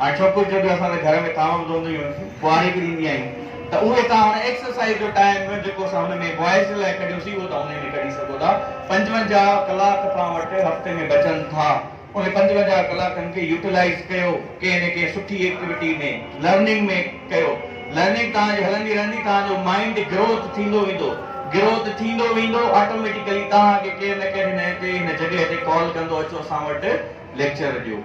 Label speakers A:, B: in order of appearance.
A: هاڻي سڀ ڪجهه جيڪي اسان سان گهر ۾ ڪاوڙ وڌنديون هيون ڪنواري به ڏيندي آهيون ته اهي توهان هن ايڪسرسائيز جو ٽائيم جيڪو اسان هن ۾ بوائز جي لاء ڪڍيوسين اهو توهان انهي ۾ ڪڍي سگهو ٿا پنجونجاهه ڪلاڪ توهان وٽ هفتي ۾ بچن ٿا انهن پنجونجاهه ڪلاڪن کي يوٽيلائيز ڪيو ڪنهن نه ڪنهن سٺي ايڪٽيوٽي ۾ لرننگ ۾ ڪيو لرننگ توهان جي هلندي رهندي توهان جو مائنڊ گروٿ ٿيندو ويندو گروٿ ٿيندو ويندو آٽوميٽيڪلي توهان کي ڪير نه ڪير هن تي هن جڳهه تي ڪال ڪندو اچو اسان وٽ ليڪچر ڏيو.